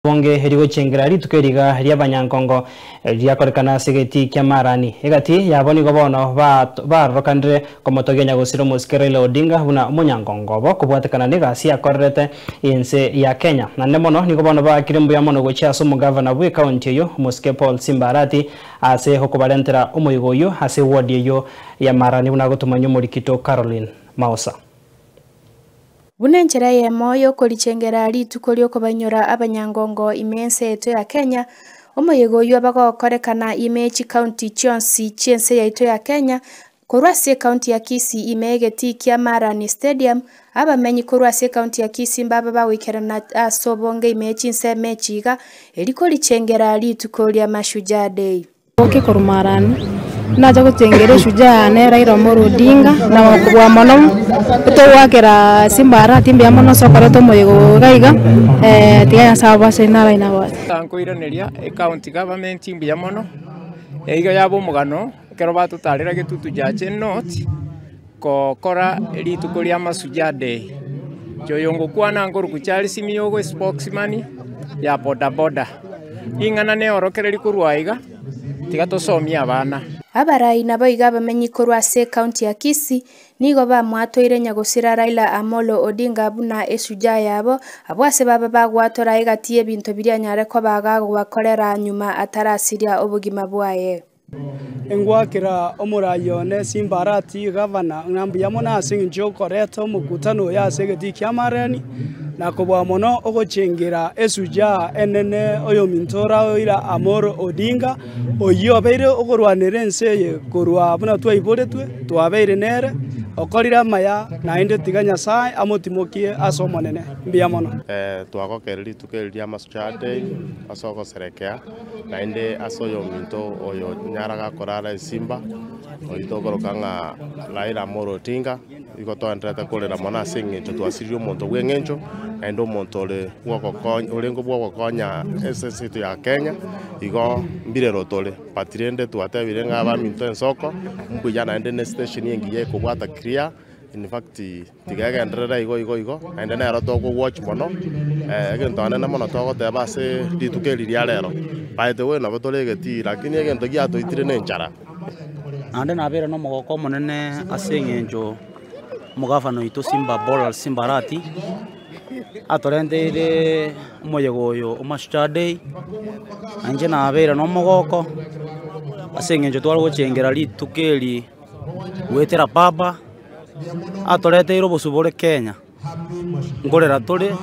Bonge rigochengera rituko eriga ri'abanyankongo riakorekana ase egetii kia Marani. Egati yabo nigo bono baarorokanire komotogia Nyagosire Omosike Raila Odinga buna omonyankongo obo kobwatekana n'egasi yakorerete ense ya Kenya. Naende mono nigo bono baakire mbuya mono gochia ase omogavana bw'ekaunti eyio Omosike Paul Simba Arati ase okobarentera omoigo oyio ase ewodi eyio ya Marani buna agotomanyia Omorikito Caroline Maosa. Buna enchera eyemo y'okorichengera rituko ri'okobainyora abanyangongo ime ense yaito ya Kenya, omoyega oyio abagokorekana ime chikaunti chionsi chi'ense yaito ya Kenya, korwa ase ekaunti ya Kisii ime egetii kia Marani Stadium, abamenyi korwa ase ekaunti ya Kisii mbabe bagoikerana as'obonge ime chinsemo echi iga, erio korichengera rituko ria Mashujaa Day. Oboke korwa Marani. Nache gotengera eshujaa yane Raila Omolo Odinga na gokobua mono togoakera Simba arati mbuya mono ase okoreta omoyega oyo iga iga tiga Nyasaye abe ase inwe araina gose. Tankoiraneria ecounty government mbuya mono, eyio yaba omogano ekero batotarera egetutu Jache North. Gokora rituko ria Mashujaa Day, Nchoyo ngokwana nkoruku Charles Miyogo espokesman ya boda boda. Ring'ana neorokereria korwa aiga, tiga tosomie abana. Abarai naboigo abamenyi korwa ase ekaunti ya Kisii nigo bamwatoire nyagosira Raila Amolo Odinga buna eshujaa yabo, abwo ase baba bagwatorae egati y'ebinto biria anyare koba agagobakorera nyuma atarasiria obogima bwaye. Engwakera omoraai one Sanbalati, gavana, ng'a mbuya mono ase engencho y'okoreta omokutano oyo ase egetii ki'amareani, na koboa mono ogochengera Esujaa enene oyominto ora Raila Amolo Odinga, oyio obeire okorwanera ense eye korwa buna twaiboretwe twabeire nere, okorire amaya, naende tiga Nyasae amotimokie ase Omonene. Mbuya mono. Twagokera rituko eri ria Mashujaa Day ase ogoserekea. Naende ase oyominto oyo nyara gakorara esimba, oito okoroka ng'a Raila Amolo Odinga, nigo twaenderete korera mono ase eng'encho twasirie omonto bw'eng'encho, naende omonto ore bw'ogokonya orenge bw'ogokonya ense ense yaito ya Kenya, igo mbirero tore. But rende twatebire ng'a abaminto ensoko, mbuya naende ne station engiya ekobwata clear, in fact. Tigegenderere igo igo igo, naende nero tokogwochi mono. Egento anene mono togoteba ase rituko eri ria rero, by the way nabo tore egetii, lakini egento giatoitire nenchara. Naende nabeire nomogoka omonene ase eng'encho omogafana oito Simba Paul Simba Arati, atorenteire omoyega oyo o Mashujaa Day, na inche nabeire nomogoko ase eng'encho tware gochengera rituko eri goetera papa. atoreteire obosio bore Kenya, nkorera tore,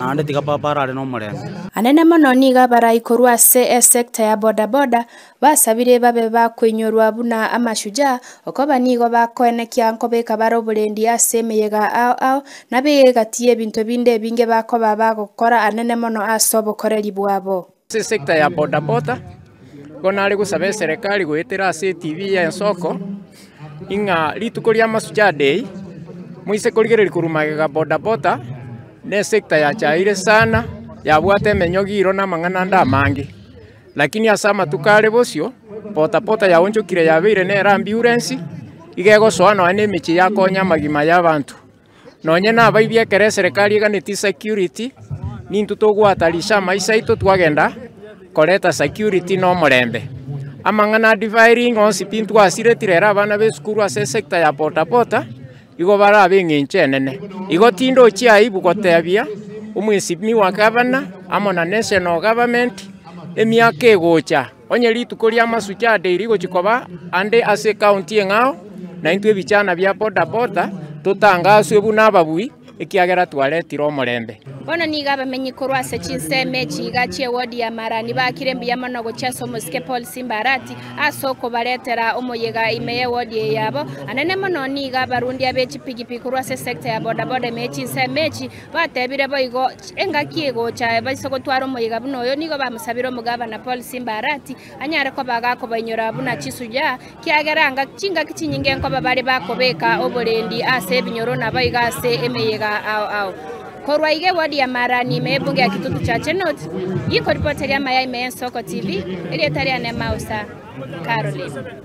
naende tiga papa arare nomorembe. Anene mono nigo abarai korwa ase esekta ya bodaboda basabire babe bakoinyorwa buna amashujaa, okoba nigo bakoenekia nkobeka bare oborendi ase emeyega ao ao nabe egati y'ebinto binde ebinge bakoba bagokora anene mono ase obokoreri bwabo. Ase sector ya boda boda, nigo nare gosaba eserekari goetera ase etv ya Ensoko, ing'a rituko ria Mashujaa day, moise korigereria korwa magega boda boda, ne sector yachaeire sana, yabwate emenyogi iro na amang'ana ande amange. Lakini ase amatuko are bosio, boda boda yaonchokire yabeire nere ambiurensi, iga egosoa nonya na emechie yakonya amagima ya abanto. Nonye nabaibia ekero eserekari eganeti security, nintwe togoatarisha amaiso aito twagenda koreta security na omorembe. Amang'ana a defiring onsi tintwasiretire ere abana b'esukuru ase esector ya bodaboda igo bare ab'eng'encho enene. Igo tindochia aibu gotebia omwesinmi wa gavana amo na national government emiaka egocha. Onye rituko ri'amasuki ade rigochia koba ande ase ekaunti eng'ao, naintwe ebichana bia bodaboda totangaswe buna ababui, ekiagera twaretire omorembe. Bono nigo abamenyi korwa ase chinsemo echi iga chi'ewodi ya Marani bakire mbuya mono gochia ase omosike Paul Simbarati ase okobaretera omoyega ime y'ewodi eye yabo. Anene mono nigo abarundi ab'echipigipigi korwa ase esecta ya bodaboda ime ye chinsemo echi, Batebire boigo, Engaki egocha ebaiso gotwara omoyega buna oyo, nigo bamosabire omogavana Paul Simba Arati anyare koba agakobainyoraa buna chisuyaa, kiagera anga chingaki chinyinge nkoba bare bakobeka oborendi ase ebinyoro na baigo ase emeyega ao ao. Korwa iga ewodi ya Marani ime y'ebunge ya Kitutu Chache North, Yiko ripoti eria amaya ime y'Ensoko TV, erieta riane Mausa Caroline.